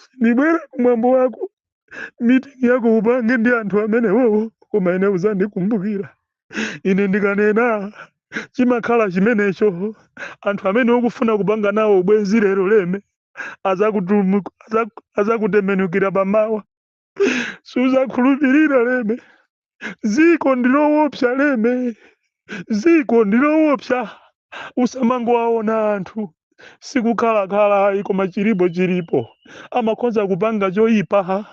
sindibwera kumwambo wako mitingi yako upange ndi anthu amenewowo koma ine uzandikumbukira ine ndikanena chimakhala chimenecho anthu amene ukufuna kupanga nawo ubwenzi lero leme azakutumu- azaku- azakutembenukira pamawa suzakhulupirira leme ziko ndilowopsa leme ziko ndilowopsa usamangowaona anthu sikukhalakhala ayi koma chilipo chilipo amakhoza kupanga choyipa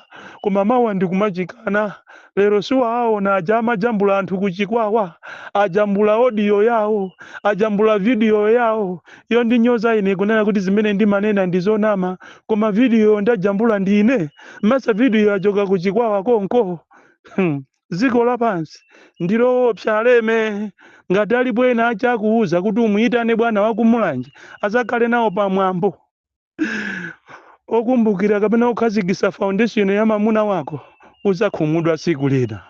koma mawa ndikumachikana lero siwaaona aja amajambula anthu kuchikwawa ajambula odiyo yawo ajambula vidiyo yawo iyo ndinyoza ine kunena kuti zimene ndimanena ndizonama koma vidiyo ndajambula ndine masa video yachoka ku chikwawa konko Hmm. dziko lapansi ndiloopsa aleme ngati alipo ena achakuuza kuti umuyitane bwana wakumulanje azakhale nawo pamwambo okumbukira kapena okhazikisa foundation ya mamuna wako uzakhumudwa tsiku lina